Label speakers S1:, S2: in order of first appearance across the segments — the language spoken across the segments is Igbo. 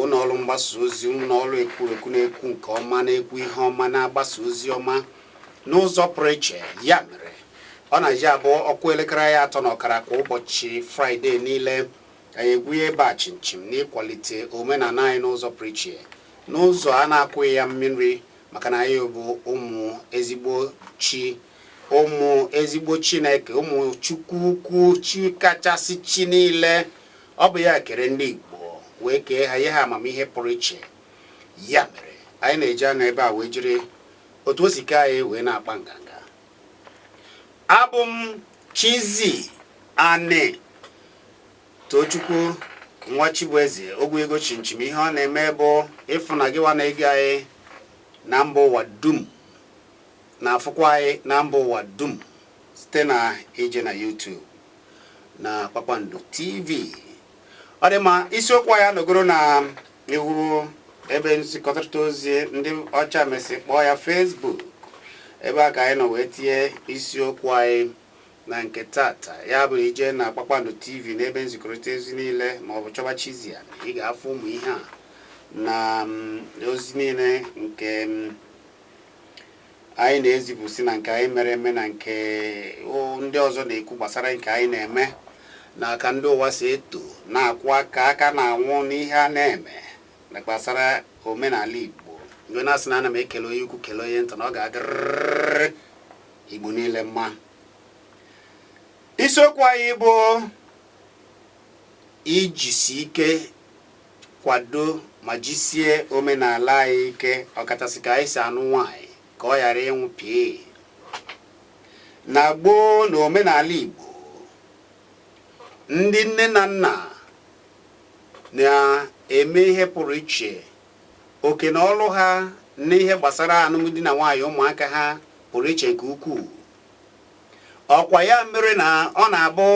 S1: ụlọ ọrụ mgbasa ozi ụlọ ọrụ ekwurekwu na-ekwu nke ọma na-ekwu ihe ọma na-agbasa ozi ọma n'ụzọ pụrụ iche ya mere ọ na-eji abụ ọ kụọ elekere ya atọ na ọkara kwa ụbọchị fraịde niile anyị egwuye ebe a chimchim n'ịkwalite omenala anyị n'ụzọ pụrụ iche n'ụzọ a na-agwaghị ya mmiri maka na anyị bụ ụmụ ezigbo chi ụmụ ezigbo chineke ụmụ chukwu ukwu chi kachasị chi niile Ọ bụ ya kere ndị Igbo wee kee ha nye ha amamihe pụrụ iche. Ya mere, anyị na-eji anọ ebe a wee jiri otu o si kee anyị wee na-akpa nganga. Abụ m Chizzy Ani Tochukwu nwa Chibueze ogwu ego chimchim ihe ọ na-eme bụ ịfụ na gịwa na-ege anyị na mba ụwa dum na-afụkwa anyị na mba ụwa dum site na ije na YouTube na Kpakpando TV ọ dị ma isiokwu anyị anọgoro na iwu ebe nzikọrịta ozi ndị ọcha mesị kpọọ ya Facebook ebe a ka anyị nọ wee tinye isiokwu anyị na nke tata ya bụ i je na Kpakpando TV n'ebe nzikọrịta ozi niile ma ọ bụ chọba Chizzy Ani ị ga-afụ ụmụ ihe a na mm, ozi niile nke mm, anyị na-ezipụsị na nke anyị mere eme na nke ndị ọzọ na-ekwu gbasara nke anyị na-eme na ka ndị ụwa si eto na-akụ aka aka na-awụ n'ihe a na-eme na gbasara omenala Igbo mgbe na-asị na ana m ekele onye ukwu kele onye nta na ọ ga-adịrịrị Igbo niile mma isiokwu anyị bụ ijisi ike kwado ma jisie omenala anyị ike ọkachasị ka anyị si anụ nwaanyị ka ọ ghara ịnwụ pịị na gboo na omenala Igbo ndị nne na nna na-eme ihe pụrụ iche oke na ọrụ ha n'ihe gbasara alụmdi na nwaanyị ụmụaka ha pụrụ iche nke ukwuu ọkwa ya mere na ọ na-abụ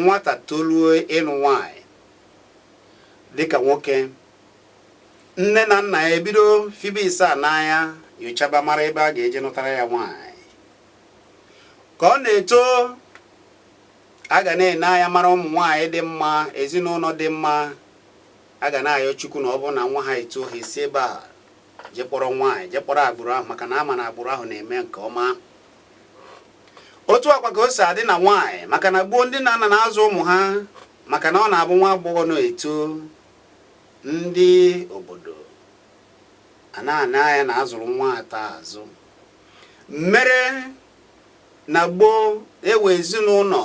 S1: nwata toluo ịnụ nwaanyị dịka nwoke nne na nna ya ebido fibe asaa n'anya nyochaba mara ebe a ga-eje nụtara ya nwaanyị ka ọ na-eto a ga na-ene anya mara ụmụ nwaanyị dị mma ezinụlọ dị mma a ga na-ayọ chukwu na ọ bụrụ na nwa ha eto ha esi ebe a jekpọrọ nwaanyị jekpọrọ agbụrụ ahụ maka na a ma na agbụrụ ahụ na-eme nke ọma otu a kwa ka o si adị na nwaanyị maka na gboo ndị nne na nna na-azụ ụmụ ha maka na ọ na-abụ nwa agbọghọ na-eto ndị obodo a na-ana anya na azụrụ nwata azụ mere na gboo ewe ezinụlọ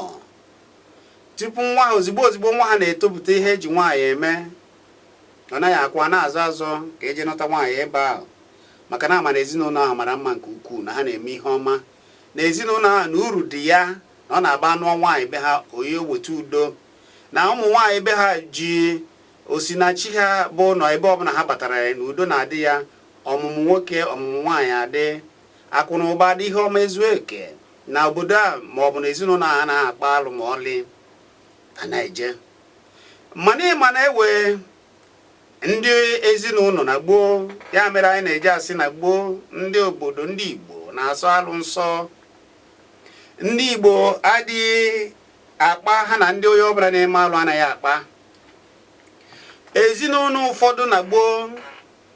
S1: tupu nwa ha ozigbo ozigbo nwa ha na-etopụta ihe eji nwaanyị eme ọ naghị akwụ a na-azọ azọ ka e jee nụta nwaanyị ebe ahụ maka na amara ezinụlọ ahụ mara mma nke ukwuu na ha na-eme ihe ọma na ezinụlọ ahụ na uru dị ya na ọ na-abụ a nụọ nwaanyị be ha o weta udo na ụmụ nwaanyị be ha ji osinachi aba ụlọ ebe ọbụla ha batara ya na udo na-adị ya ọmụmụ nwoke ọmụmụ nwaanyị adị akụ na ụba dị ihe ọma ezu eke na obodo a ma ọ bụ na ezinụlọ a na-akpa alụ ma ọlị anaghị eje mana ịma na ewe ndị ezinụlọ na gboo ya mere anyị na-eji asị na gboo ndị obodo ndị Igbo na-asọ alụ nsọ ndị Igbo adịghị akpa ha na ndị onye ọbụla na-eme alụ anaghị akpa ezinụlọ ụfọdụ na gboo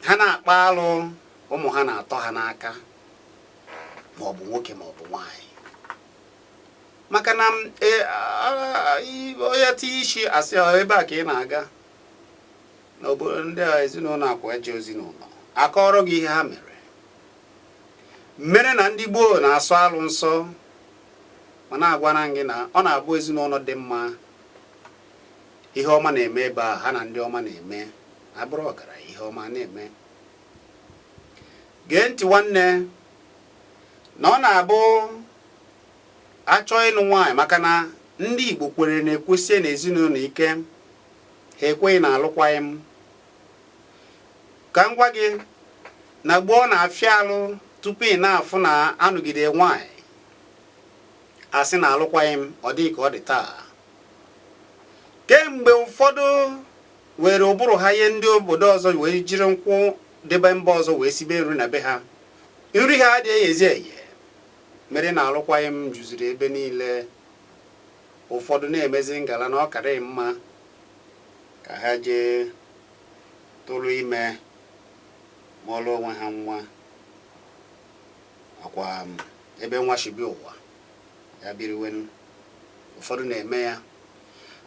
S1: ha na-akpa alụ ụmụ ha na-atọ ha n'aka ma ọ bụ nwoke ma ọ bụ nwaanyị maka na e, onye tinye isi asị ebe a ka ị na-aga n'obodo ndị ezinụlọ akwa eje ezinụlọ akọọrọ gị ihe ha mere mere na ndị gboo na-asọ alụ nsọ mana agwara m gị na ọ na-abụ ezinụlọ dị mma ihe ọma na-eme be ha ha na ndị ọma na-eme abụrụ ọgara ihe ọma na-eme gee ntị nwanne na ọ na-abụ achọ ịnụ nwaanyị maka na ndị Igbo kwere na-ekwesi na ezinụlọ ike ha ekweghị na alụkwaghị m ka m gwa gị na gboo ọ na-afịa alụ tupu ị na-afụ na anụgide nwaanyị asị na alụkwaghị m ọ dịghị ka ọ dị taa kemgbe ụfọdụ were ụbụrụ ha ihe ndị obodo ọzọ wee jiri nkụ ndị be mba ọzọ wee sibe nri na be ha nri ha adịghịzi eghe mere na alụkwaghị m juziri ebe niile ụfọdụ na-emezi ngala na ọ karịrị mma ka ha jee tụrụ ime mụọrọ onwe ha nwa akwa um, ebe nwa shi bịa ụwa ya biriwe ụfọdụ na-eme ya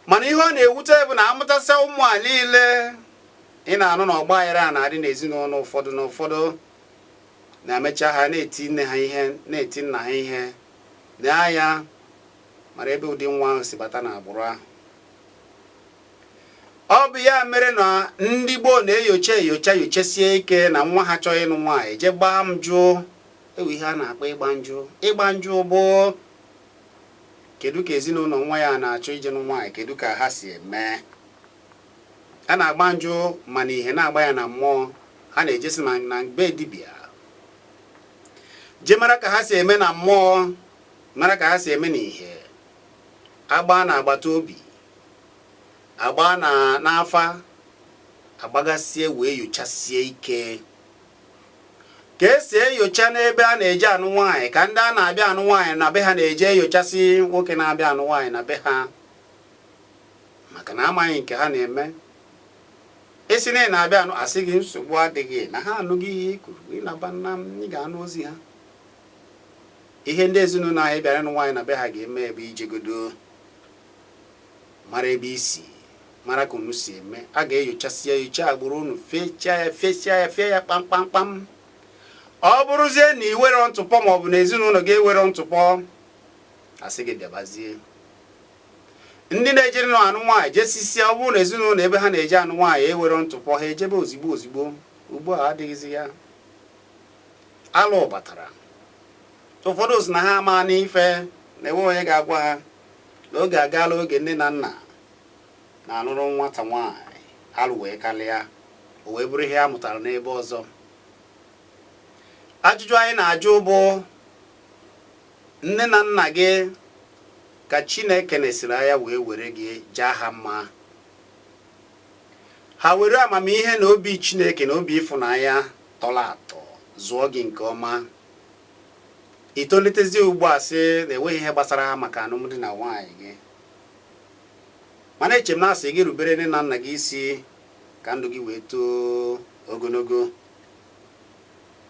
S1: mana ihe ọ na-ewute bụ na amụtasịa ụmụ a niile ị na-anụ na ọgba aghara a na-adị n'ezinụlọ ụfọdụ na ụfọdụ na-emecha ha na-eti nne ha ihe na-eti nna ha ihe na ya mara ebe ụdị nwa ahụ si bata n'agbụrụ ahụ ọ bụ ya mere na ndị gboo na-enyocha enyocha nyochasie ike na nwa ha chọọ ịnụ nwaanyị jee gbaa njụ e nwere ihe a na-akpọ ịgba njụ ịgba njụ bụ kedu ka ezinụlọ nwa ya na-achọ ije nụ nwaanyị kedu ka ha si eme a na-agba njụ ma n'ihe na-agba ya na mmụọ ha na-ejesi na be dibia jee mara ka ha si eme na mmụọ mara ka ha si eme n'ihe agbaa n'agbata obi agbaa n'afa agbagasie wee yochasie ike ka e si enyocha n'ebe a na-eje anụ nwaanyị ka ndị a na-abịa anụ nwaanyị na be ha na-eje enyochasị nwoke na-abịa anụ nwaanyị na be ha maka na amaghị nke ha na-eme ị sị na ị na-abịa anụ asị gị nsogbu adịghị na ha anụgo ihe i kwuru ị naba na ị ga-anụ ozi ha Ihe ndị ezinụlọ a ị bịara ịnụ nwaanyị na be ha ga-eme bụ ijegodo mara ebe i si mara ka unu si eme a ga-enyochasị ya nyocha agbụrụ unu fechaa ya fechaa ya fee ya kpamkpamkpam ọ bụrụzie na i nweghị ntụpọ ma ọ bụ na ezinụlọ gị enweghị ntụpọ asị gị bịabazie ndị na-ejere nụ anụ nwaanyị jesisia ọ bụrụ na ezinụlọ ebe ha na-eje anụ nwaanyị enweghị ntụpọ ha ejebe ozigbo ozigbo ugbu a adịghịzi ya alụ batara ụfọdụ sị na ha amaana ife na enwe onye ga-agwa ha na oge agaala oge nne na nna na-alụrụ nwata nwaanyị alụ wee kalịa o wee bụrụ ihe a mụtara n'ebe ọzọ ajụjụ anyị na-ajụ bụ nne na nna gị ka Chineke nesiri anya wee were gị jaa ha mma ha were amamihe na obi Chineke na obi ịfụnanya tọrọ atọ zụọ gị nke ọma i tolitezie ugbu a sị na enweghị ihe gbasara ha maka alụmdi na nwaanyị gị mana eche m na asị gị rubere nne na nna gị isi ka ndụ gị wee too ogologo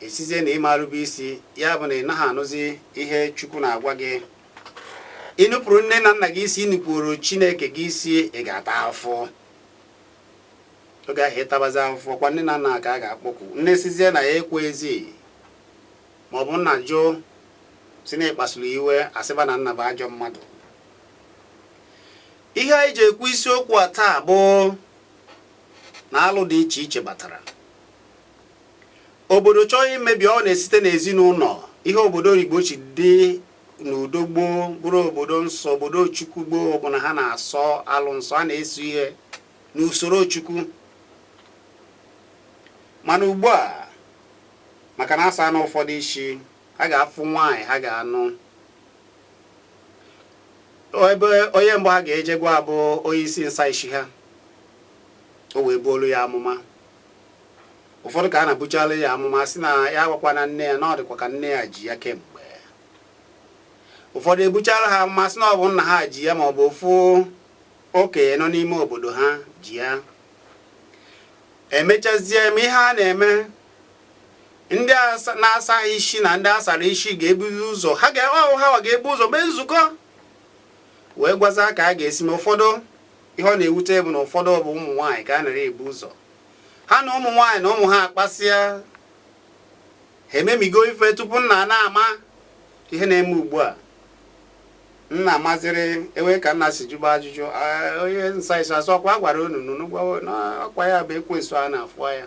S1: ị sịzie na ị ma erube isi ya bụ na ị naghị anụzi ihe chukwu na-agwa gị i nupụrụ nne na nna gị isi i nupụrụ chineke gị isi ị ga-ata afụfụ oge ahụ ị tabazi afụfụ kwa nne na nna ka a ga-akpọku nne sịzie na ya ekwezi ma ọ bụ nna jụụ sị na ị kpasuru ya iwe asịba na nna bụ ajọ mmadụ ihe anyị ji ekwu isiokwu a taa bụ na alụ dị iche iche batara obodo chọọ imebi ọ na-esite n'ezinụlọ ihe obodo Igbo ji dị n'udo gboo bụrụ obodo nsọ obodo chukwu gboo bụ na ha na-asọ alụ nsọ a na-eso ihe n'usoro chukwu mana ugbu a maka na asa na ụfọdụ isi ha ga-afụ nwaanyị ha ga-anụ ebe onye mbụ ha ga-eje gwa bụ onye isi nsa isi ha o wee buolu ya amụma ụfọdụ ka a na-ebuchala ya amụma sị na ya agwakwana nne ya na ọ dịkwa ka nne ya ji ya kemgbe ụfọdụ ebuchala ha amụma sị na ọ bụ nna ha ji ya ma ọ bụ ofu okenye nọ n'ime obodo ha ji ya emechazie mee ihe a na-eme ndị na-asa isi na ndị asara isi ga-ebuzi ụzọ ha ga-ewe ahụ ha ga-ebu ụzọ mee nzukọ wee gwazie ka a ga-esi mee ụfọdụ ihe ọ na-ewute bụ na ụfọdụ bụ ụmụ nwaanyị ka a nara ebu ụzọ ha na ụmụ nwaanyị na ụmụ ha akpasịa ha ememigo ife tupu nna na-ama ihe na-eme ugbu a nna maziri ewe ka nna si jụba ajụjụ onye nsa isi asị ọkwa a gwara unu n'ọkwa ya bụ ekwensu a na-afụ ya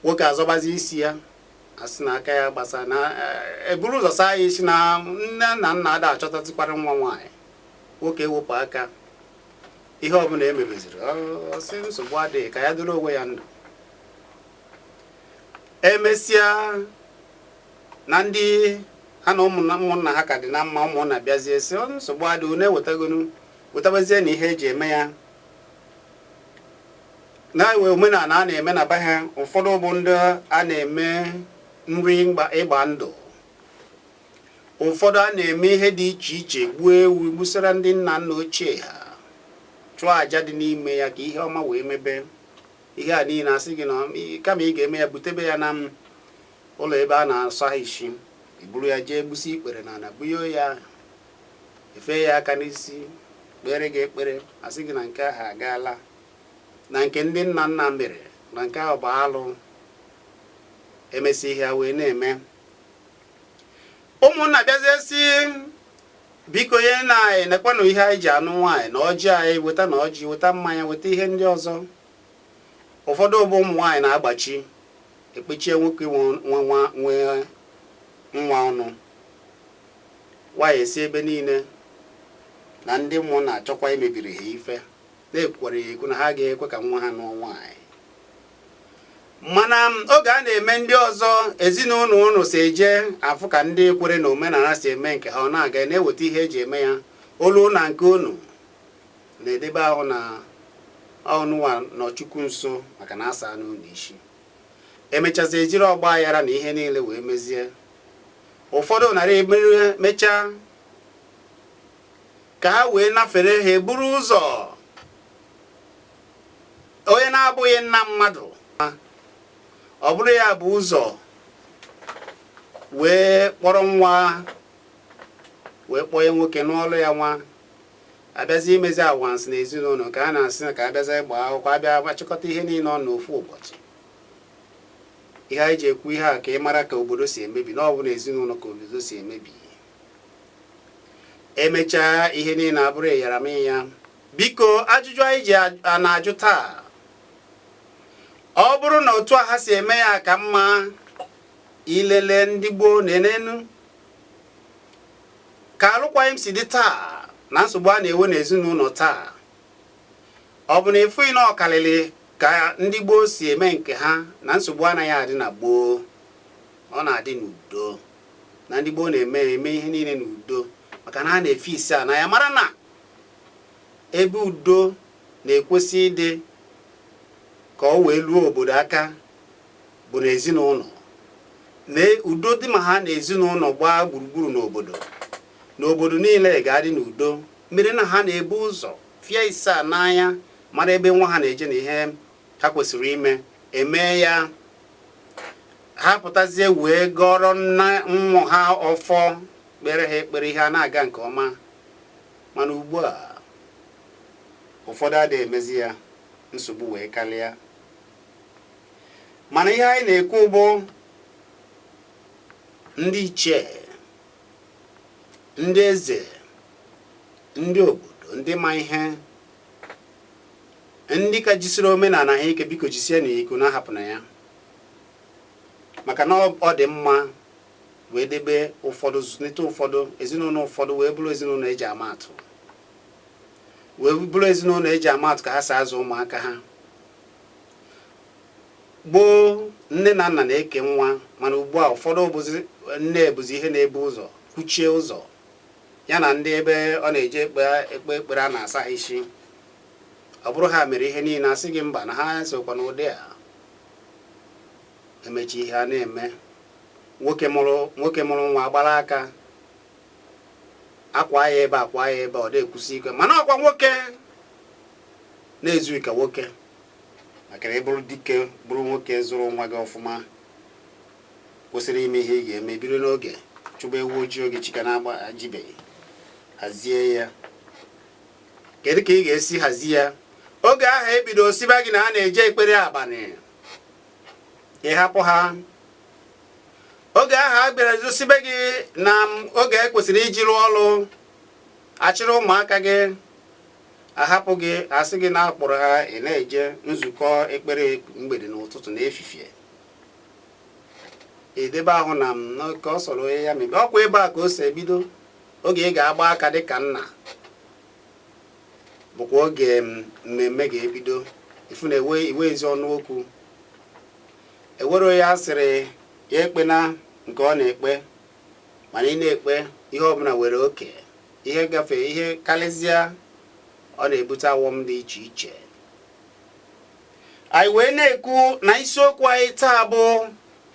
S1: nwoke azọbazi isi ya asị na aka ya gbasa na eburu ụzọ saa ya isi na nne na nna ada achọtazikwara nwa nwaanyị nwoke ewepụ aka ihe ọbụla emebeziri ọ sị nsogbu adịghị ka ya dịrị onwe ya ndụ emesịa na ndị ha na ụmụnna ha ka dị na mma ụmụnna bịazie sị nsogbu adịghị unu ewetagonu wetabazie na ihe eji eme ya na-enwe omenala a na-eme na be ha ụfọdụ bụ ndị a na-eme nri ịgba ndụ ụfọdụ a na-eme ihe dị iche iche gbuo ewu gbusara ndị nna nna ochie ha chụọ aja dị n'ime ya ka ihe ọma wee mebe ihe a niile asị gị na kama ị ga-eme ya butebe ya na ụlọ ebe a na-asa isi i buru ya jee gbusi ikpere na ana bunye ya efe ya aka n'isi kpeere gị ekpere asị gị na nke ahụ agaala na nke ndị nna nna mere na nke ahụ bụ alụ emesi ihe a wee na-eme ụmụnna bịazie sị biko nyenụ anyị nekwanụ ihe anyị ji anụ nwaanyị na ọjị anyị weta na ọjị weta mmanya weta ihe ndị ọzọ ụfọdụ bụ ụmụ nwaanyị na-agbachi ekpechie nwoke nwe nwa ọnụ nwaanyị esi ebe niile na ndị mmụọ na-achọkwa imebiri ha ife na-ekwukwara ya ekwu na ha ga-ekwe ka nwa ha nụọ nwaanyị mana oge a na-eme ndị ọzọ ezinụlọ unu si eje afụ ka ndị kwere na omenala si eme nke ha ọ na-aga na-eweta ihe eji eme ya o lue na nke unu na-edebe ahụ na unuwa nọ chukwu nso maka na asaana unu isi emechazi ejiri ọgba aghara na ihe niile wee mezie ụfọdụ nara emere mechaa ka ha wee nafere ha eburu ụzọ onye na-abụghị nna mmadụ ọ bụrụ ya bu ụzọ wee kpọrọ nwa wee kpọnye nwoke nụlụ ya nwa abịazi imezi awansị na ezinụlọ ka a na-asị ka abịazi ịgba akwụkwọ abịa achịkọta ihe niile n'ofu ụbọchị ihe anyị ji ekwu ihe a ka ị mara ka obodo si emebi na ọ bụ na ezinụlọ ka obodo si emebi emechaa ihe niile abụrụ ịyaramịya biko ajụjụ anyị ji na-ajụ taa ọ bụrụ na otu a ha si eme ya ka mma ilele ndị gboo neenụ ka alụkwaghịm si dị taa na nsogbu a na-enwe n'ezinụlọ taa ọ bụ na ịfụghị na ọ kalịlị ka ndị gboo si eme nke ha na nsogbu anaghị adị na gboo ọ na-adị n'udo na ndị gboo na-eme ihe niile na udo maka na ha na-efi ịsaa n'anya mara na ebe udo na-ekwesị ịdị ka ọ wee luo obodo aka bụ na ezinụlọ na udo dị ma ha na ezinụlọ gbaa gburugburu n'obodo na obodo niile ga-adị n'udo mere na ha na-ebu ụzọ fie ịsaa n'anya mara ebe nwa ha na-eje na ihe ha kwesịrị ime emee ya ha pụtazie wee gọọrọ ụmụ ha ọfọ kpere ha ekpere ihe a na-aga nke ọma mana ugbu a ụfọdụ adịghị emezi ya nsogbu wee karịa mana ihe anyị na-ekwu bụ ndị ichie ndị eze ndị obodo ndị ma ihe ndị ka jisiri omenala ha ike biko jisienụ ya ike unu ahapụna ya maka na ọ dị mma wee debe ụfọdụ zụlite ụfọdụ ezinụlọ ụfọdụ wee bụrụ ezinụlọ eji ama atụ wee bụrụ ezinụlọ eji ama atụ ka ha si azụ ụmụaka ha gboo nne na nna na-eke nwa mana ugbu a ụfọdụ nne bụzi ihe na-ebu ụzọ kwuchie ụzọ ya na ndị ebe ọ na-eje ekpe ekpere a na-asa ha isi ọ bụrụ ha mere ihe niile asị gị mba na ha sokwa n'ụdị a emechi ihe a na-eme nwoke mụrụ nwa gbara aka akwa ya ebe akwa ya ebe ọ dịkwụsị ike mana ọkwa nwoke na-ezughị ka nwoke maka na ị bụrụ dike bụrụ nwoke zụrụ nwa gị ọfụma kwesịrị ime ihe ị ga-eme biri n'oge chụba ewu ojii oge chi ka na-agba ejibeghị hazie ya kedu ka ị ga-esi hazie ya oge ahụ e bido sịba gị na a na-eje ekpere abalị ị hapụ ha oge ahụ a bịarazị sịbe gị na oge e kwesịrị iji rụọ ọrụ achịrị ụmụaka gị ahapụ gị asị gị na-akpọrọ ha ị na-eje nzukọ ekpere mgbede n'ụtụtụ na efifie edebe ahụ na nke ọ sọrọ onye ya mebe ọkwa ebe a ka o si ebido oge ị ga-agba aka dị ka nna bụkwa oge mmemme ga-ebido ifu na iwe ezi ọnụ okwu ewere ya sịrị ya ekpe na nke ọ na-ekpe mana ị na-ekpe ihe ọbụla nwere oke ihe gafee ihe karịzịa ọ na-ebute ọghọm dị iche iche anyị wee na-ekwu na isiokwu anyị taa bụ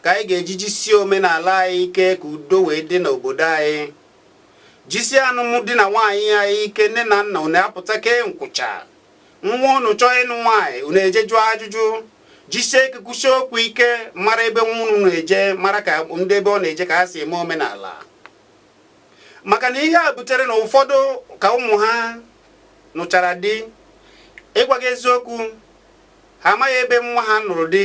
S1: ka anyị ga-eji jisie omenala anyị ike ka udo wee dị n'obodo anyị jisie anụmdi na nwaanyị anyị ike nne na nna unu apụta kee nkwụcha nwa unu chọọ ịnụ nwaanyị unu eje jụọ ajụjụ jisie ike kwusie okwu ike mara ebe nwa unu na-eje mara ka ndị ebe ọ na-eje ka ha si eme omenala maka na ihe a butere na ụfọdụ ka ụmụ ha nụchara di ịgwa gị eziokwu ha amaghị ebe nwa ha nụrụ di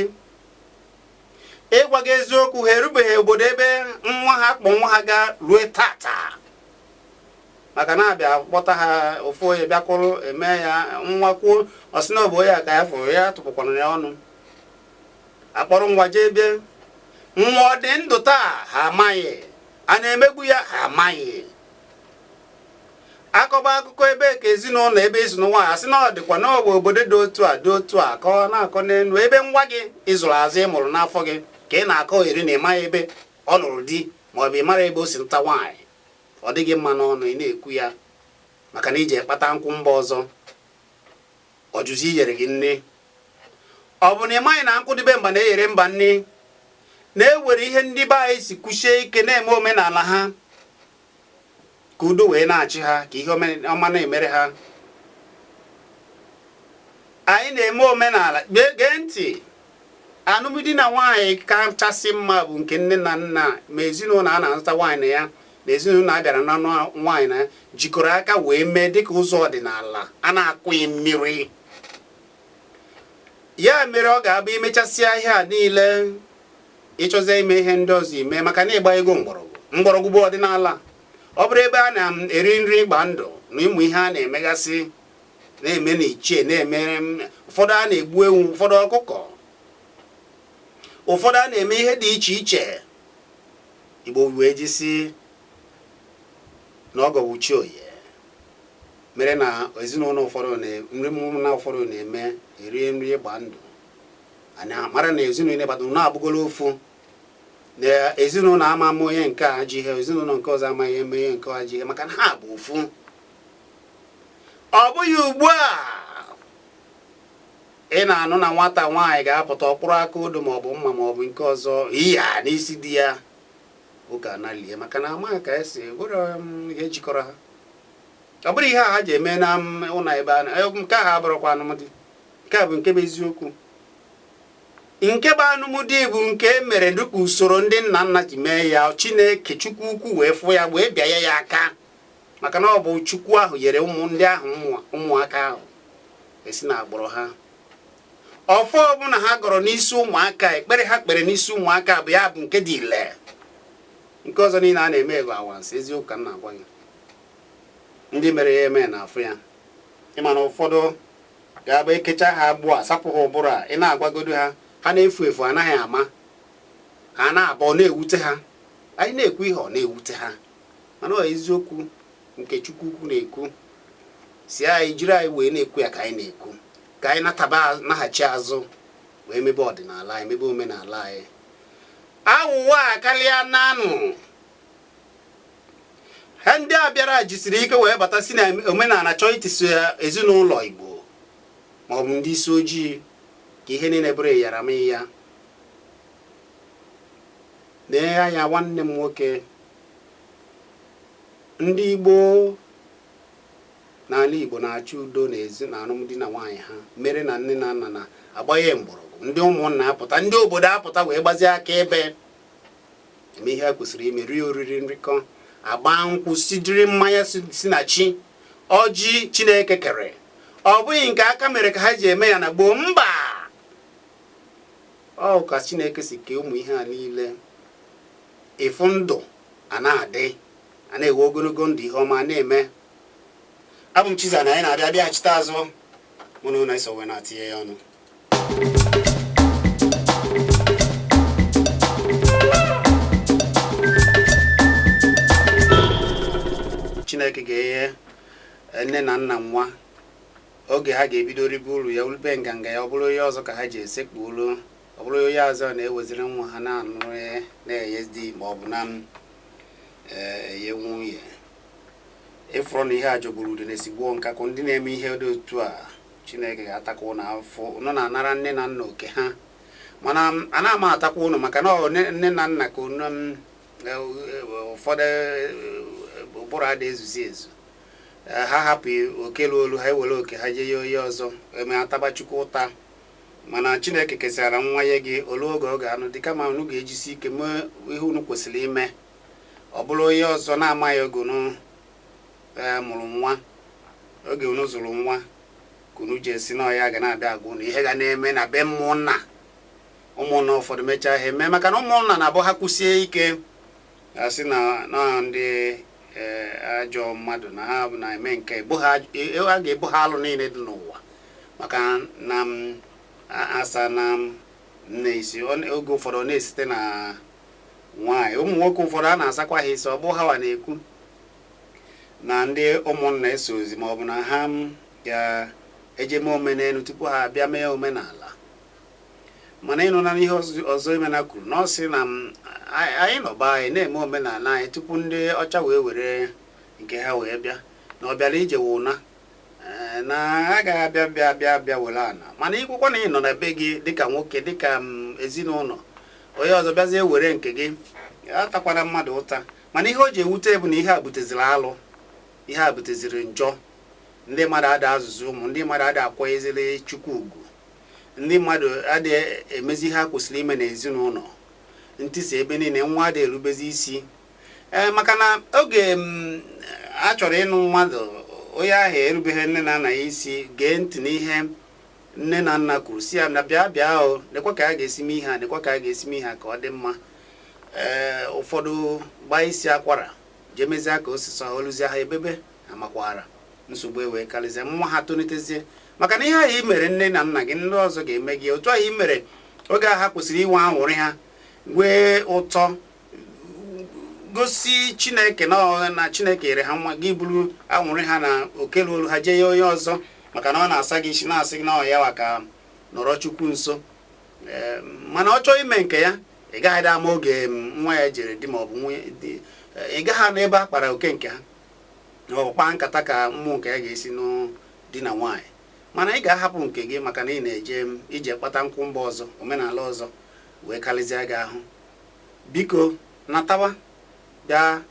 S1: ịgwa gị eziokwu ha erubeghị obodo ebe nwa ha kpọ nwa ha gaa rue tata maka na a bịa kpọta ha ofu onye bịa kwụrụ eme ya nwa kwuo ọ sị na ọ bụ ya ka ya fụrụ ya tụpụkwana ya ọnụ akpọrọ nwa jee bịa nwa ọ dị ndụ taa ha amaghị a na-emegbu ya ha amaghị akọba akụkọ ebe ka ezinụlọ ebe i si nụọ nwaanyị a sị na ọ dịkwa na ọ bụ obodo dị otu a dị otu a ka ọ na-akọ n'elu ebe nwa gị ị zụrụ azụ ị mụrụ n'afọ gị ka ị na-akọ eri na ị maghị ebe ọ nụrụ di ma ọ bụ ịmara ebe o si nụta nwaanyị ọ dịghị mma n'ọnụ ị na-ekwu ya maka na i jee kpata nkụ mba ọzọ ọ jụzi iyere gị nni ọ bụ na ị maghị na nkụ dị be mba na-eyere mba nni na e nwere ihe ndị be anyị si kwusie ike na-eme omenala ha ka udo wee na-achị ha ka ihe ọma na-emere ha anyị na-eme omenala gee ntị anụmdi na nwaanyị kachasị mma bụ nke nne na nna ma ezinụlọ a na-azụta nwaanyị na ya na ezinụlọ a bịara na nwaanyị na jikọrọ aka wee mee dịka ụzọ ọdịnala a na-akụghị mmiri ya mere ọ ga-abụ imechasịa ihe a niile ịchọzie ime ihe ndị ọzọ i mee maka na ị gbanyego mgbọrọgwụ mgbọrọgwụ bụ ọdịnala ọ bụrụ ebe a na-eri nri ịgba ndụ na ụmụ ihe a na-emegasị na-eme na ichie na-emere ụfọdụ a na-egbu ewu ụfọdụ ọkụkọ ụfọdụ a na-eme ihe dị iche iche Igbo wee ji si na ọgọ bụ chi onye mere na ezinụlọ ụfọdụ nri na ụfọdụ na-eme erie nri ịgba ndụ anyị mara na ezinụlọ ịgbata na abụgolo ofu na ezinụlọ a ama eme onye nke a ajọ ihe ezinụlọ nke ọzọ amaghị eme onye nke a ajọ ihe maka na ha bụ ofu ọ bụghị ugbu a ị na-anụ na nwata nwaanyị ga-apụta ọ kpụrụ aka odo maọbụ mma maọbụ nke ọzọ iya n'isi di ya ụka analie maka na amaghị ka esi bụrụ um, ihe jikọrọ ha ọ bụrụ ihe a ha ji eme na um, ụlọ ebe a eh, nke ahụ abụrọkwa anụmdi nke a bụ nke bụ eziokwu nke bụ anụmdi bụ nke e mere dịka usoro ndị nna nna ji mee ya chineke chukwu ukwu wee fụ ya wee bịanye ya aka maka na ọ bụ chukwu ahụ nyere ụmụ ndị ahụ ụmụaka ahụ esi na agbụrụ ha ọfọ ọbụla ha gọrọ n'isi ụmụaka ekpere ha kpere n'isi ụmụaka bụ ya bụ nke dị ile nke ọzọ niile a na-eme bụ anwansị eziokwu ka m na-agwa gị ndị mere ya eme na-afụ ya ịma na ụfọdụ ga-abụ e kechaa ha agbụ a sapụ ha ụbụrụ a ị na-agwagodo ha ha na-efu efu anaghị ama ha na-abụ na-ewute ha anyị na-ekwu ihe ọ na-ewute ha mana ọ eziokwu nke Chukwu ukwu na-ekwu si anyị jiri anyị wee na-ekwu ya ka anyị na-ekwu ka anyị nataba naghachi azụ wee mebe ọdịnala anyị mebe omenala anyị awụwọ akarịana nụ ha ndị a bịara jisiri ike wee bata si na omenala chọọ itisa ezinụlọ Igbo maọbụ ndị isi ojii ka ihe niile bụrụ ịyara m ya nee anya nwanne m nwoke ndị Igbo n'ala Igbo na-achọ udo na ezi na alụmdi na nwaanyị ha mere na nne na nna na-agbanye mgbọrọgwụ ndị ụmụnna apụta ndị obodo apụta wee gbazie aka ebe eme ihe kwesịrị ime rie oriri nrikọ a gbaa nkwụ sidiri mmanya si na chi ọjị Chineke kere ọ bụghị nke aka mere ka ha ji eme ya na gboo mba ọ ka Chineke si kee ụmụ ihe a niile Ịfụ ndụ a na-adị, a na-enwe ogologo ndụ ihe ọma na-eme. Abụ m Chiza na anyị na-abịa bịaghachite azụ mụ na unu iso wee na-etinye ya ọnụ Chineke ga-enye eh, nne na nna nwa oge ha ga-ebido ribe uru ya ulube nganga ya ọ bụrụ onye ọzọ ka ha ji esekpuolu ọ bụrụ onye ọzọ na-eweziri nwa ha na-anụrụ ya na-enye di ma ọ bụ na m eh, enye nwunye ịfụrụ na ihe a jọgburu udene sigbuo nkakwụ ndị na-eme ihe dị otu a chineke ga-atakwa ụnụ afụfụ ụnụ na-anara nne na nna oke ha mana m- ana m atakwa ụnụ maka na ọ nne nne na nna ka ụnụ m, eh, eh, ụfọdụ eh, ụbụrụ ada ezuzi ezu Eh, ha hapụ oke ruolu ha ewere oke ha jee nye onye ọzọ emee ataba Chukwu ụta mana Chineke kesịara nwa nye gị o lue oge ọ ga-anụ di kama unu ga-ejisi ike mee ihe unu kwesịrị ime ọ bụrụ onye ọzọ na-amaghị oge unu ee eh, mụrụ nwa oge unu zụrụ nwa ka unu ji asị na ọ ya ga na-abịa agwa unu ihe ga na-eme na be ụmụnna ụmụnna ụfọdụ mechaa ha eme maka na ụmụnna na-abụ ha kwụsie ike a sị na na ndị eh, ajọ mmadụ na ha na-eme nke egbu ha e- a ga-ebo ha alụ niile dị n'ụwa maka na m a- asa na m nne isi ọ na- oge ụfọdụ ọ na-esite na nwaanyị ụmụ nwoke ụfọdụ a na-asakwa ha isi ọ bụ ha wa na-ekwu na ndị ụmụnna esozi ma ọ bụ na ha ga-eje mee omenelu tupu ha abịa mee omenala mana ịnụ na ihe ọzọ Emena kwuru na ọ sị na anyị nọba anyị na-eme omenala anyị tupu ndị ọcha wee were nke ha wee bịa na ọ bịara ije wụna eh, na a gaghị abịa bịa bịa bịa were ana mana ikwukwa na ị nọ na be gị dịka nwoke dịka mm, ezinụlọ onye ọzọ bịazie were nke gị atakwana mmadụ ụta mana ihe o ji ewute bụ na ihe a buteziri alụ ihe a buteziri njọ ndị mmadụ ada azụzi ụmụ ndị mmadụ ada akwanyeziri chukwu ugwu ndị mmadụ adịghị emezi ihe ha kwesịrị ime n'ezinụlọ ntisa ebe niile nwa adịghị erubezi isi ee eh, maka na oge mm, a chọrọ ịnụ mmadụ onye ahụ erubeghị nne na nna ya isi gee ntị n'ihe nne na nna kwuru sị ya na bịa bịa o nekwa ka a ga-esi mee ihe a nekwa ka a ga-esi mee ihe a ka ọ dị mma ee eh, ụfọdụ gbaa isi akwara jee mezie ka o si sọlụzie ha e bebe amakwaara nsogbu ewee karịzie nwa ha tolitezie maka na ihe ahụ i mere nne na nna gị ndị ọzọ ga-eme gị otu ahụ i mere oge ahụ ha kwesịrị inwe anwụrị ha nwee ụtọ gosi chineke na na chineke yere ha nwa gị buru anwụrị ha na oke luulu ha jee ye onye ọzọ maka na ọ na-asa gị isi na-asị gị na ọ ya wa ka nọrọ chukwu nso mana ọ chọọ ime nke ya ị gaghị ama oge nwa ya jere di maọbụ nwunye ị gaghị anụ ebe a kpara oke nke ha kpaa nkata ka ụmụ nke ya ga-esi nụọ di na nwaanyị mana ị ga-ahapụ nke gị maka na ị na-eje m ije kpata nkwụ mba ọzọ omenala ọzọ wee karịzịa gị ahụ biko natawa bịa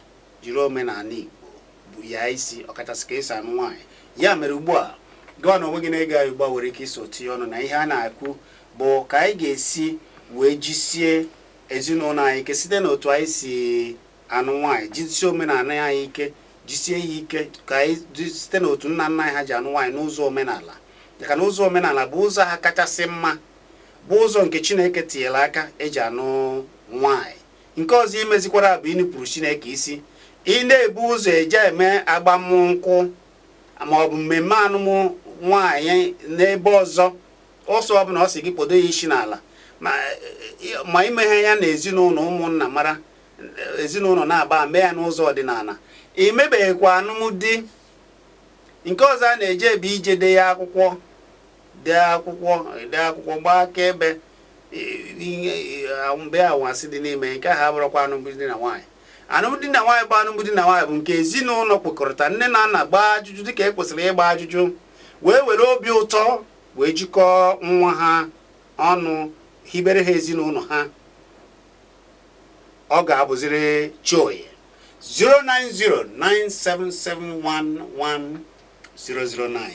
S1: jiri omenala Igbo bu ya isi ọkachasị ka esi anụ nwaanyị ya mere ugbu a gịwa na onwe gị na-ege anyị ugbu a nwere ike iso tinye ọnụ na ihe a na-ekwu bụ ka anyị ga-esi wee jisie ezinụlọ anyị ike site n'otu anyị si anụ nwaanyị jisie omenala anyị ike jisie ya ike ka anyị site n'otu nna nna anyị ha ji anụ nwaanyị n'ụzọ omenala maka na ụzọ omenala bụ ụzọ ha kachasị mma bụ ụzọ nke chineke tinyere aka eji anụ nwaanyị nke ọzọ imezikwara bụ inupụrụ chineke isi ị na-ebu ụzọ eje eme agbamnkwụ ma ọ bụ mmemme anụmụ nwaanyị n'ebe ọzọ ọsọ ọbụla ọ sọ gị kpodo ya isi n'ala ma imeghị ya na ezinụlọ ụmụnna mara ezinụlọ naabọ mee ya n'ụzọ ọdịnala emebeghịkwa alụmdi nke ọzọ a na-eje ebe ije dee ya akwụkwọ dee akwụkwọ dee akwụkwọ gbaa akaebe mebe anwansi dị n'ime nke ahụ abụrọkwa alụmdi na nwaanyị alụmdi na nwaanyị bụ alụmdi na nwaanyị bụ nke ezinụlọ kwekọrịta nne na nna gbaa ajụjụ dịka e kwesịrị ịgba ajụjụ wee were obi ụtọ wee jikọọ nwa ha ọnụ hibere ha ezinụlọ ha ọ ga-abụziri Chioye 09097711009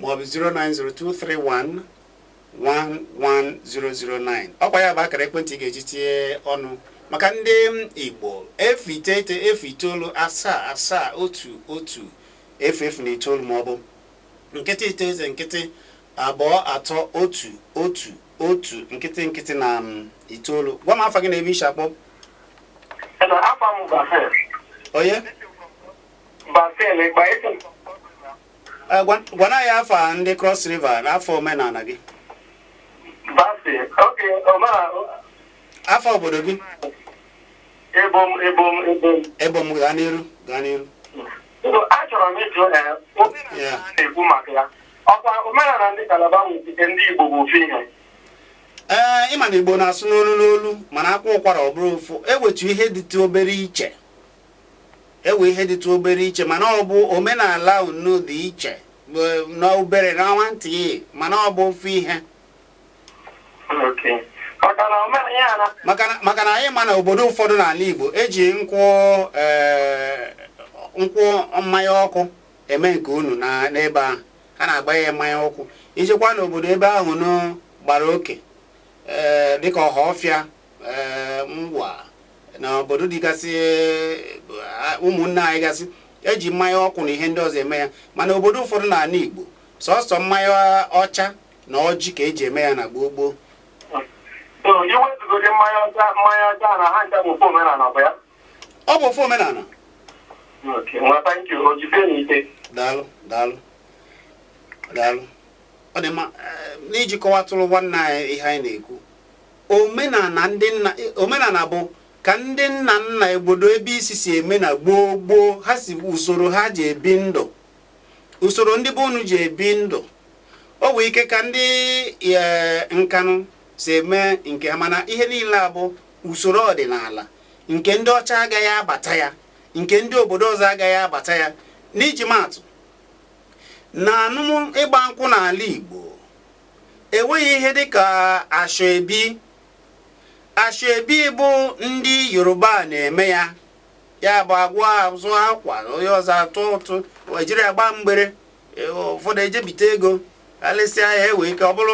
S1: maọbụ 09023111009 ọkwa ya bụ akara ekwentị ị ga-eji tinye ọnụ maka ndị Igbo efu iteghete efu itoolu asaa asaa otu otu efu efu na itoolu maọbụ nkịtị iteghete nkịtị abụọ atọ otu otu otu nkịtị nkịtị na um, itoolu gwa m afa gị na ebe isi akpọ onye eh, gwa anyị afa ndị cross river na afa omenala gị afa obodo gị ebom ebom ebom ebom gaa n'iru gaa n'iru
S2: Ndụ achọrọ m ịjụ na omenala a na-ekwu maka ya ọkwa omenala ndị Kalaba nwetite ndị Igbo bụ ofu
S1: ihe ee ịma na Igbo na-asụ n'olu n'olu mana akwaa ụkwara ọ bụrụ ofu ewetu ihe dịtụ obere iche ewe ihe dịtụ obere iche mana ọ bụ omenala unu dị iche n'obere na nwantị mana ọ bụ ofu ihe maka na anyị ma na obodo ụfọdụ n'ala Igbo eji nkwụ e, nkwụ mmanya ọkụ eme nke unu n'ebe ahụ ha na-agba ya mmanya ọkụ ijekwa n'obodo ebe ahụ nụ gbara oke e, dịka Ọhafịa e, Ngwa na obodo dịgasị ụmụnne anyị gasị eji mmanya ọkụ na ihe ndị ọzọ eme ya mana obodo ụfọdụ n'ala Igbo sọsọ mmanya ọcha na ọjị ka eji eme ya na gboo gboo iwezụgodi mmanya ọcha mmanya ọcha na ha ncha bụ ofu omenala bụ ya ọ bụ ofu omenala daalụ daalụ daalụ ọ dị mma eh, n'iji kọwatụrụ nwanne anyị ihe anyị na-ekwu omenala ndị nna eh, omenala bụ ka ndị nna nna obodo ebe i si si eme na gboo gboo ha si usoro ha ji ebi ndụ usoro ndị be unu ji ebi ndụ o nwee ike ka ndị e, Nkanụ si eme nke ha mana ihe niile a bụ usoro ọdịnala nke ndị ọcha agaghị abata ya nke ndị obodo ọzọ agaghị abata ya n'iji maatụ na anụmụ ịgba nkwụ n'ala Igbo enweghị ihe dịka ashoebi ashoebi bụ ndị Yoruba na-eme ya ya bụ agwa azụ akwa na onye ọzọ atụ ụtụ ejiri agba mgbere e, ụfọdụ ejebite ego alesịa ya ewee ike ọ bụrụ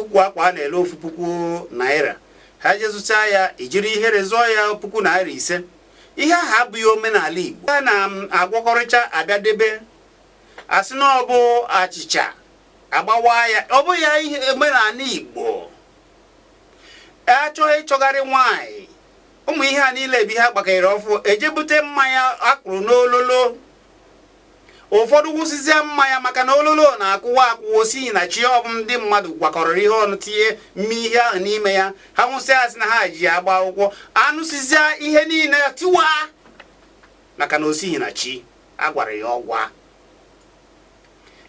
S1: ukwu akwa a na-ele ofu puku naira ha jezụcha ya ijiri ihere zụọ ya puku naira ise ihe ahụ abụghị omenala Igbo a na-agwọkọrịcha abịa debe asị na ọ bụ achịcha agbawa ya ọ bụ ya ihe omenala Igbo achọghị ịchọgharị nwaanyị ụmụ ihe a niile bụ ihe a gbakere ọfụụ eje bute mmanya akụrụ n'ololo ụfọdụ wụsịzie mmanya maka na ololo na-akụwa akụwa osighi na chi ọ bụ ndị mmadụ gwakọrọ ihe ọnụ tinye mme ihe ahụ n'ime ya ha nwụsịa asị na ha ji agba akwụkwọ aṅụsịzịa ihe niile tiwa maka na osighi na chi a gwara ya ọgwa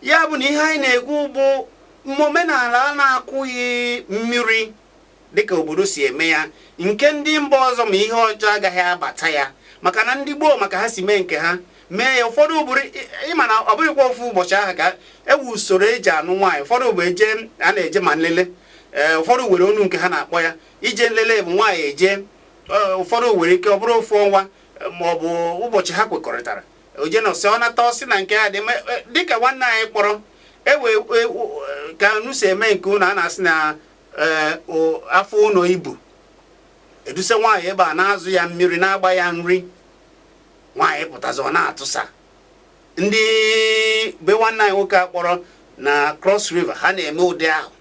S1: ya bụ na ihe anyị na-ekwu bụ omenala a na-akụghị mmiri dịka obodo si eme ya nke ndị mba ọzọ ma ihe ọjọọ agaghị abata ya maka na ndị gboo ma ka ha si mee nke ha mee ya ụfọdụ bụrụ ịma na ọ bụghịkwa ofu ụbọchị ahụ ka ewu usoro eji anụ nwaanyị ụfọdụ bụ eje a na-eje ma nlele ee ụfọdụ were onu nke ha na-akpọ ya ije nlele bụ nwaanyị eje ụfọdụ nwere ike ọ bụrụ ofu ọnwa ma ọ bụ ụbọchị ha kwekọrịtara o je nọsịa ọ nata ọ sị na nke ya dị e, dịka nwanne anyị kpọrọ ewe e, e, ka unu si eme nke unu a na-asị na ee afọ ụnọ ibu eduse nwaanyị ebe a na-azụ ya mmiri na-agba ya nri nwaanyị pụtazi ọ na-atụsa ndị be nwanne anyị nwoke a kpọrọ na Cross River ha na-eme ụdị ahụ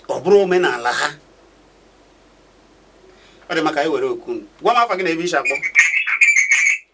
S1: ọ bụrụ omenala ha ọ dị mma ka anyị were oku gwa m afa gị na ebe i si akpọ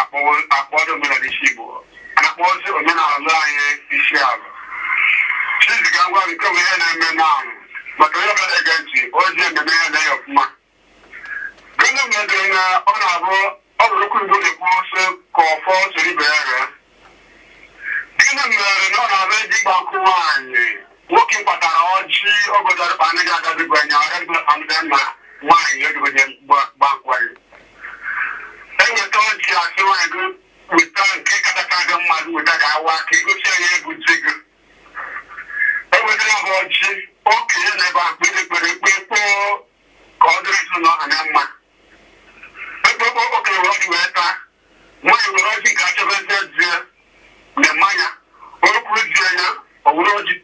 S2: akpọrọ omenala isi Igbo a na-akpọzi omenala anyị isi ala chiziga ngwa nke bụ ihe na-eme n'ahụ maka onye ọbụla na-ege ntị ozi ememe ya na ya ọfụma gịnị mere na ọ na-abụ ọ bụrụ okwu Igbo na-ekwu sị ka ọfọ soro ibe ya ree gịnị mere na ọ na-abụ eje ịgba nkwụ nwaanyị nwoke kpatara ọjị ogodarịkpa anaghị agabigo anya ọrịa mgbe nwaanyị ogogo gba nkwụ eweta ọjị a sị nwaanyị gị weta nke katacha gị mma gị weta ka a waa ka i gosi anyị onye bụ di gị ewetara ha ọjị okenye nọ ebe a kpere ekpere ekpe kpoo ka ọ dịrị ezinụlọ ha na mma ekpekpe okenye were ọjị wee taa nwaanyị were ọjị nke a chọbezie di ya na mmanya o kuru di ya nye ya o were ọjị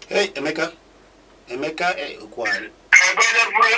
S1: Hey, Emeka. Emeka, eh, Okwari. ebe onye
S2: bụrụ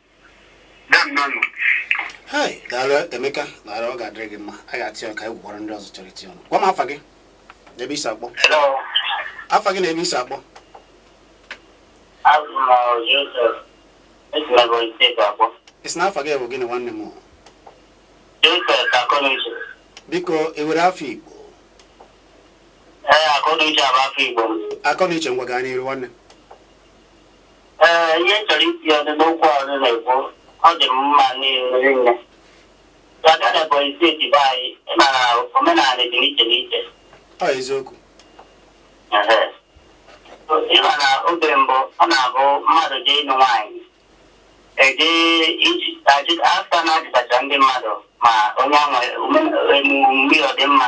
S1: hai daalụ emeka daalụ ọ ga-adịrị gị mma a ga-atị ọka egwu gwara ndị ọzọ chọrọ iti ọnụ gwa m afa gị na ebe i si akpọ
S2: afa gị na ebe
S1: i si akpọ
S2: ị sị na afa gị
S1: bụ gịnị nwanne
S2: m biko
S1: i nwere afa igbo
S2: akọnuche ngwa gaa
S1: n'iru nwanne
S2: Ee, ihe m chọrọ iti ọnụ n'okwu a unu na-ekwu ọ dị m mma rinne ị bịa na Ebonyi steeti be anyị ị ma na omenala dị n'iche n'iche ọ eziokwu
S1: Ehe.
S2: ị ma na oge mbụ ọ na-abụ mmadụ jee ịnụ nwaanyị eje iji ajụ- afta na-ajụtacha ndị mmadụ ma onye ahụ eme- omume ya ọ dị mma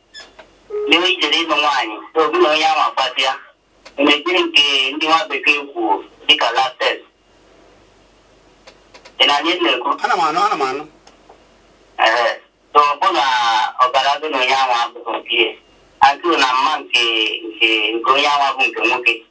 S2: n'iwu i jere ịnụ nwaanyị gị na onye ahụ akpasịa mgbe nke ndị nwa bekee kwuo dịka lab test ị na-anụ ihe m na-ekwu ana m anụ ana m
S1: anụ
S2: ee so ọ bụ na ọbara gị na onye ahụ abụghị nke ihe atụ na mma nke nke nke onye ahụ bụ nke nwoke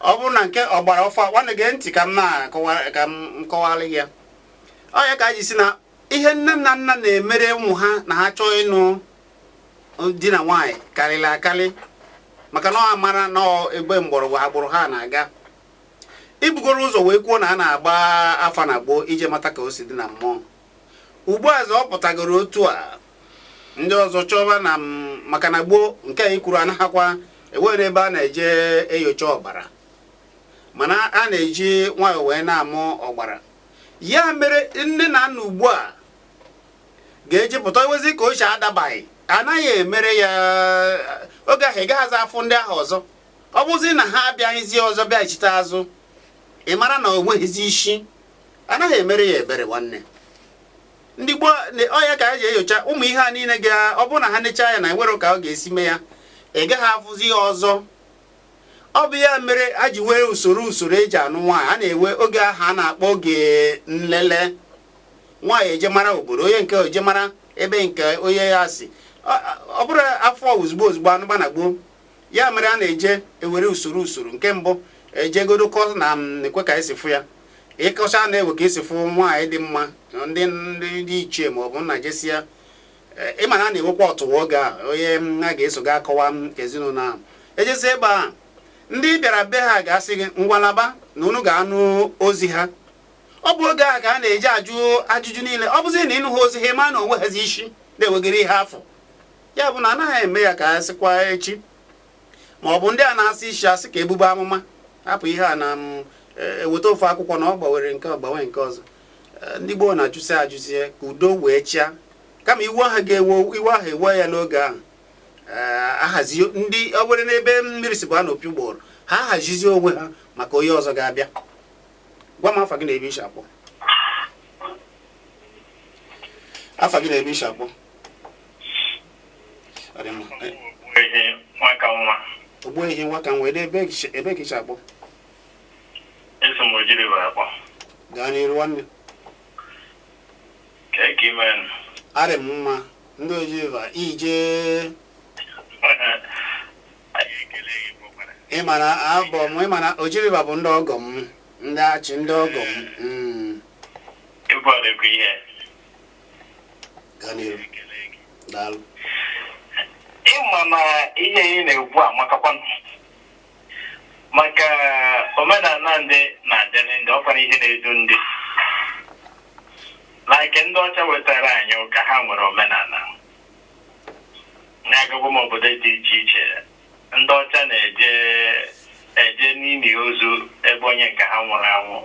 S1: ọ bụrụ na nke ọgbara ọfụ a nwanne gee ntị ka m na-akọwa ka m kọwara gị ya ọ ya ka anyị ji sị na ihe nne na nna na-emere ụmụ ha na ha chọọ ịnụ di na nwaanyị karịrị akarị maka na ọ mara na ebe mgbọrọgwụ agbụrụ ha na-aga i bugoro ụzọ wee kwuo na a na-agba afa na gboo ije mata ka o si dị na mmụọ ugbu a ọ pụtagoro otu a ndị ọzọ chọba na maka na gboo nke anyị kwuru anaghakwa enwere ebe a na-eje enyocha ọbara mana a na-eji nwayọọ wee na-amụ ọbara ya mere nne na nna ugbu a ga-eji pụta iwezi ka o si adabaghị anaghị emere ya oge ahụ ị gaghịzi afụ ndị ahụ ọzọ ọ bụzi na ha abịaghịzi ọzọ bịachite azụ ị mara na o nweghịzi isi anaghị emere ya ebere nwanne ndị gboo ọ ya ka a ji enyocha ụmụ ihe a niile ga ọ bụrụ na ha nechaa ya na enwere ka ọ ga-esi mee ya ị gaghị afụzi ya ọzọ ọ bụ ya mere a ji nwee usoro usoro eji anụ nwaanyị a na-enwe oge ahụ a na-akpọ oge nlele nwaanyị ejee mara obodo onye nke ejee mara ebe nke onye a si ọ bụrọ afụ ozugbo ozugbo anụba na gboo ya mere a na-eje ewere usoro usoro nke mbụ ejegodo kọọ na e nwe ka esi fụ ya ị kọchaa na e nwe ka esi fụ nwaanyị dị mma ndị ndị ichie ma ọ bụ nna jesia ịma na a na-enwekwa ọtụwa oge a onye a ga-eso ga akọwa ezinụlọ ahụ ejesi ebe a ndị bịara be ha ga-asị gị ngwa laba na unu ga-anụ ozi ha ọ bụ oge a ka a na-eji ajụ ajụjụ niile ọ bụzi na ị nụha ozi ha ma na o nwehazi isi na e nwegoro ihe a fụ ya bụ na anaghị eme ya ka a sịkwa echi ma ọ bụ ndị a na-asị isi asị ka ebube amụma hapụ ihe a na mm, e, eweta ofu akwụkwọ na ọ gbanwere nke gbanwe nke ọzọ e, ndị gboo na-ajụsi ajụsi ka udo wee chịa kama iwe ahụ ga-ewe iwe ahụ ewe ya n'oge ahụ e, ahazi ndị ọ bụrụ n'ebe mmiri si baa n'opi ụgbọgụrụ ha hazizie onwe ha maka onye ọzọ ga-abịa gwa m afa gị na ebe i si akpọ afa gị na ebe i si akpọ ogbuehi nwa ka nwa ebe ka i si
S3: akpọ gaa n'iru
S1: nwanne
S3: arị m
S1: mma ndị oji river ije ị ma na abụ m ị ma na oji river bụ ndị ọgọ m ndị achi ndị ọgọ m hmm.
S3: ịma na ihe ị na-ekwu amakakwanụ maka omenala ndị na-adịrị ndị ọkwara ihe na-edu ndị like ndị ọcha wetara anyị ụka ha nwere omenala na agagokwa m obodo dị iche iche ndị ọcha na-eje eje n'ili ozu ebe onye nke ha nwụrụ anwụ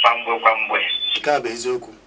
S3: kwa mgbe kwa mgbe nke a
S1: bụ eziokwu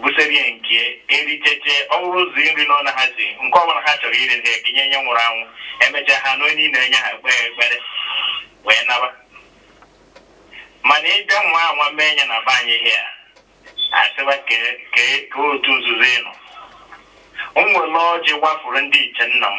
S3: buserie nri dị iche iche ọ wụrụ ụzọ nri anọ na ha si nke ọbụla ha chọrọ iri na ekenye onye nwụrụ anwụ emechaa ha na onye ị na-enye ha ekpee ekpere wee naba mana ị bịa nwaa anwa mee nye na be anyị here asịba ka otu nzuzo ịnụ m nwere ọjị gbafuru ndị ichie nna m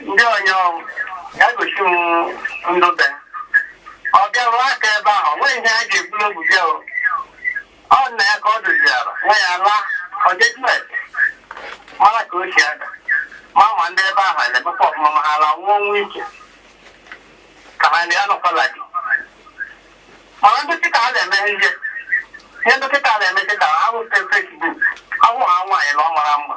S2: ndị onye ọrụ ya gosi m ndụ be ọ bịarụ aka ebe ahụ o nweghị ihe ha ga-ekwu n'obu bịa o ọ nna ya ka ọ doziara nwa ya laa ọ jejuet mara ka o si aga ma ma ndị ebe ahụ na-emekwa ọfụma ma ha laa nwụọ nwa ike ka ha na ya nọkwala gị mana ndị kịta ha na-eme ihe ihe ndị kịta na-eme kịta a bụ Facebook a hụ ha nwaanyị na ọ mara mma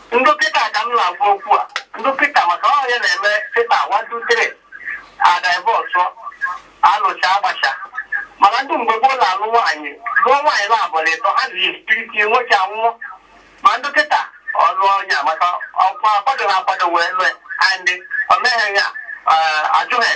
S2: Ndị kịta ka m na-agwa okwu a. Ndị kịta maka ihe a na-eme kịta one two three a divorce alụcha agbacha mana ndị mgbe gboo na-alụ nwaanyị lụọ nwaanyị na abụọ na ịtọ ha na-ekiriti nwoke anwụọ ma ndị kịta ọ lụọ onye a maka ọkwa akwado na akwado wee lụọ and o mee ya ajọ ihe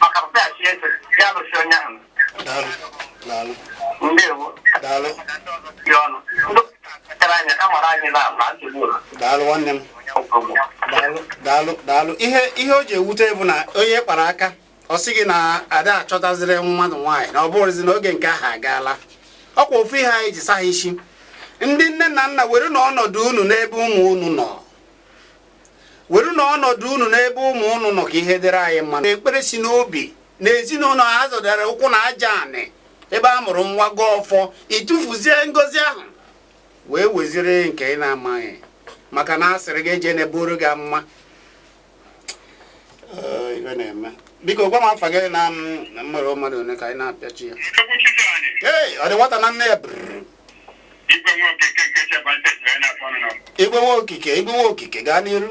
S2: maka papa ya chi eze ya lụsi onye ahụ daalụ daalụ ndewo daalụ dị ọnụ ndị kpachara anya a mara anyị na na nsogbu ụlọ daalụ nwanne m
S1: daalụ daalụ daalụ ihe ihe o ji ewute bụ na onye kpara aka ọ sị gị na a da achọtaziri mmadụ nwaanyị na ọ bụrụzi na oge nke ahụ agaala ọkwa ofu ihe anyị ji saha isi ndị nne na nna werenụ ọnọdụ unu n'ebe ụmụ unu nọ werenụ ọnọdụ unu n'ebe ụmụ unu nọ ka ihe dịrị anyị mma ekpere si n'obi na ezinụlọ a zọdara ụkwụ na aja anị ebe a mụrụ nwa gọọ ọfọ ị tụfuzie ngozi ahụ wee weziri nke ị na-amaghị maka na asịrị gị eje na-eburu gị mma biko gwa m afa gị na mmadụ mmadụ one ka anyị na-apịachi ya ee ọ dị nwata na nne ya igwe nwokike igwe nwokike gaa n'iru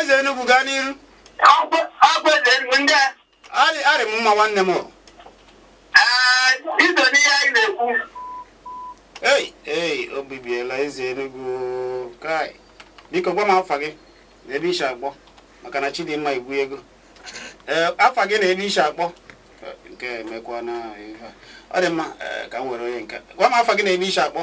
S1: eze Enugu gaa n'iru arị m mma nwanne m ei ei o bibiela eze Enugu kai biko gwa m afa gị na ebe i si akpọ maka na Chidimma igwu ego ee afa gị na ebe i si akpọ nke emekwa na ọ dị mma ka m were onye nke gwa m afa gị na ebe i si akpọ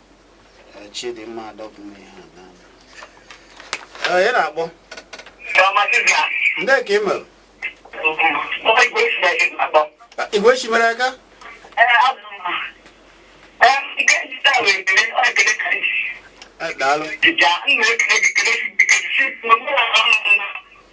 S1: Chidimma adọpụla ihe a na Ee, ị na-akpọ ndị ka ị mere igwe chi mere aka Ee, daalụ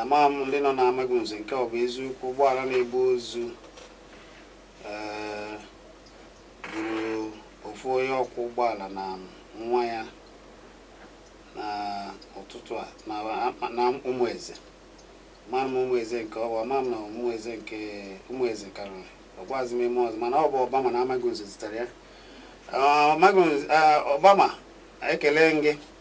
S1: Amaghị m ndị nọ n'Amagụnze nke ọ bụ eziokwu ụgbọala na-ebu ozu ee, gburu ofu onye ọkwọ ụgbọala na nwa ya na ụtụtụ a na akpa- na Ụmụeze amarọ m Ụmụeze nke ọ bụ ama m na Ụmụeze nke Ụmụeze karịrị ọ gwazi m ime ọzọ mana ọ bụ Obama na Amagụnze zitere ya Ọ, amaghị nze- ah, Obama ekele m gị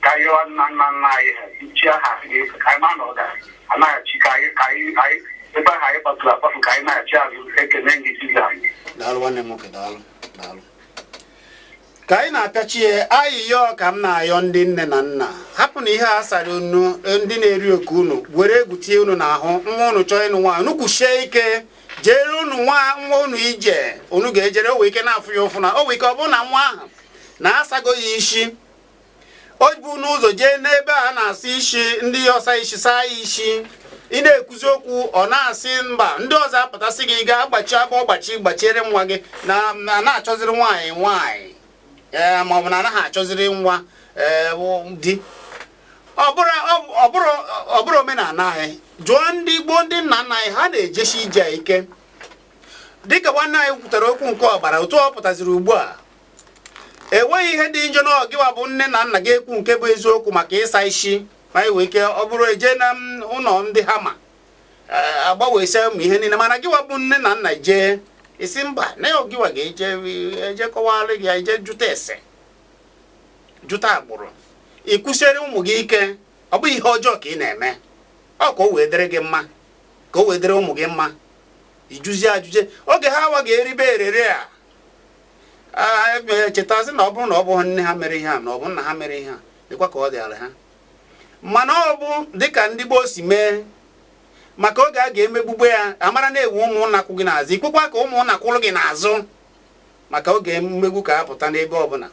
S2: ka anyị rịọ nna nna nna anyị ha chi aha anyị ga-efe ka anyị ma na ọ ga anaghachi ka anyị ka anyị anyị ebe ahụ anyị kpafuru akpafu ka anyị naghachi azụ ekene gị
S1: Jizọs daalụ nwanne m nwoke daalụ daalụ ka anyị na-apịachie ayịyọ ka m na-ayọ ndị nne na nna hapụ na ihe a sara unu ndị na-eri oke unu were egwu tie unu n'ahụ nwa unu chọọ ịnụ nwaanyị unu kwusie ike jere unu nwa nwa unu ije unu ga-ejere o nwee ike na-afụ ya ụfụ na o nwee ike ọ bụrụ na nwa ahụ na asago ya isi o bu n'ụzọ jee n'ebe a na-asa isi ndị ọsa isi saa ya isi ị na-ekwuzi okwu ọ na-asị mba ndị ọzọ apụtasị gị gaa gbachi agbachi gbachiere nwa gị na na-achọziri nwaanyị nwaanyị ee maọbụ na anaghị achọziri nwa ee di ọ bụrọ omenala anyị jụọ ndị gboo ndị nna nna anyị ha na-ejesi ije ike dịka nwanne anyị kwutere okwu nke ọgbara ọfụụ pụtaziri ugbu a enweghị ihe dị njọ na gịwa bụ nne na nna ga-ekwu nke bụ eziokwu maka ịsa isi ma anyị nwee ike ọ bụrụ e jee na ụlọ ndị ha ma e, agbanwesịa ụmụ ihe niile mana gịwa bụ nne na nna jee ị sị mba na ọ gịwa ga-eje eje kọwara gị ya eje jụta ese jụta agbụrụ ị kwụsịrị ụmụ gị ike ọ bụghị ihe ọjọọ ka ị na-eme ọ ka o wee dịrị gị mma ka o wee dịrị ụmụ gị mma ị jụzie ajụjụ oge ha awa ga-eribe erere a chetazi na ọ bụrụ na ọ bụghị nne ha mere ihe a na ọ bụ nna ha mere ihe a dịkwa ka ọ dịara ha mana ọ bụ dịka ndị gboo si mee maka oge a ga-emegbube ya amara na-ewu ụmụnna kwụ gị n'azụ ikwekwa ka ụmụnna kwụrụ gị n'azụ maka oge mmegbu ka apụta n'ebe ọbụla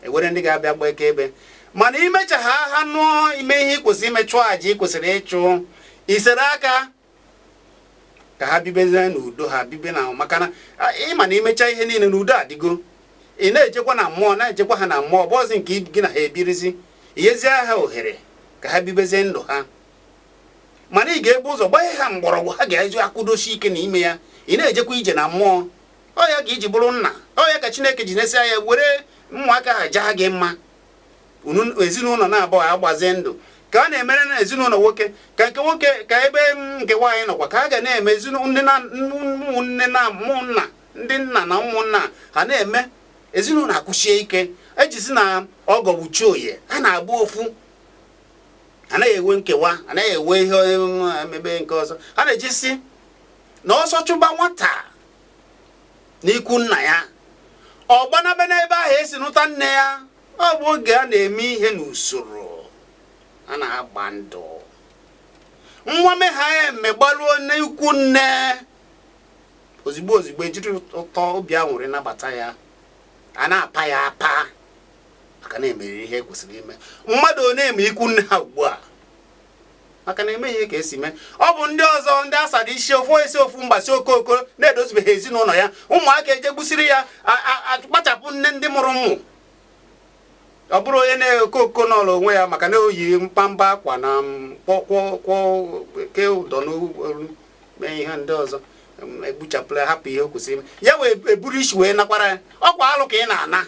S1: ewere ndị ga-abịa gba akaebe mana imecha ha ha nụọ ime ihe ị kwesịrị ime chụọ aja ị kwesịrị ịchụ isere aka ka ha bibezie n'udo ha bibe na maka na ịma na imecha ihe niile na udo adịgo ị na-ejekwa na mmụọ na-ejekwa ha na mmụọ bụzi nke gị na ha ebirizi iyezie ha ohere ka ha bibezie ndụ ha mana ị ga-ebu ụzọ gbanye ha mgbọrọgwụ ha ga-eji akwụdosi ike na ime ya ị na-ejekwa ije na mmụọ ọ ya ka iji bụrụ nna ọ ya ka Chineke ji nesịa anya were ụmụaka ha jaa gị mma ezinụlọ naabọ agbazie ndụ ka a na-emere na ezinụlọ nwoke ka nke nwoke ka ebe nke nwaanyị nọkwa ka a ga na-eme ụmụnne na ụmụnna ndị nna na ụmụnna ha na-eme ezinụlọ akwụsie ike ejizi na ọgọ bụ chi onye ha na-abụ ofu anaghị enwe nkewa anaghị enwe ihe emebe nke ọzọ ha na-eji sị na ọsọ chụba nwata n'ikwu nna ya ọ gbanabe n'ebe ahụ esi nụta nne ya ọ bụ oge a na-eme ihe n'usoro a na-agba ndụ nwa megha ya eme gbaruo n'ikwu nne ozigbo ozigbo ejiri ụtọ obi aṅụrị nabata ya a na-apa ya apa maka na emeriri ihe ekwesịrị ime mmadụ one na-eme ikwu nne ha ugbu a maka na emeghị ihe ka esi mee ọ bụ ndị ọzọ ndị asada isi ofu esi ofu mgbasi okooko na-edozibeghị ezinụlọ ya ụmụaka ejegbusiri ya akpachapụ nne ndị mụrụ ụmụ ọ bụrụ onye na-eko oko n'ọla onwe ya maka na o yi mkpamba akwa na kwọkwọkwọ ke ụdọ n'olu mee ihe ndị ọzọ egbuchapụla hapụ ihe o kwesịrị ya wee eburu isi wee nakwara ya ọkwa alụ ka ị na-ana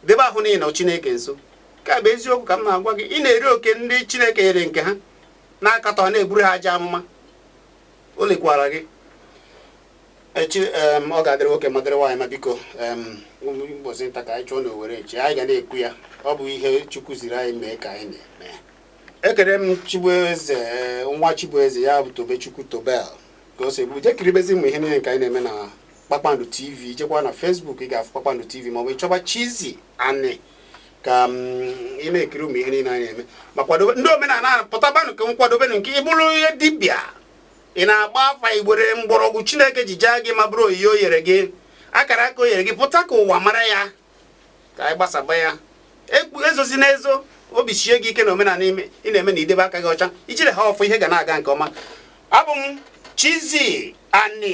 S1: debe ahụ niile Chineke nso nke a bụ eziokwu ka m na-agwa gị ị na-eri oke ndị chineke nyere nke ha na-akatọ na-eburu ha ajọ amụma o lekwara gị echi ọ ga-adịrị nwoke ma dịrị nwaanyị ma biko ụbọchị nta ka anyị chụọ na owere nchi anyị ga na-ekwu ya ọ bụ ihe chukwu ziri anyị mee ka anyị na-eme ekele m chibueze eh, nwa chibueze ya bụ tobechukwu tobel ka o si ebu je kiribezi ụmụ ihe niile nke anyị na-eme na kpakpando tv jekwa na Facebook ị ga-afụ kpakpando tv maọbụ ịchọba Chizzy Ani ka mm, ị na-ekiri ụmụ ihe niile anyị na-eme ma kwadobe ndị omenala pụtabanụ ka m kwadobe unu nke ị bụrụ ihe dibịa ị na-agba afa iwere mgbọrọgwụ chineke ji jaa gị mma bụrụ onyinye o yere gị akara aka o yere gị pụta ka ụwa mara ya ka anyị gbasaba ya ezozina ezo obi sie gị ike na omenala ime ị na-eme na idebe aka gị ọcha ijiri ha ọfọ ihe ga na-aga nke ọma abụ m Chizzy Ani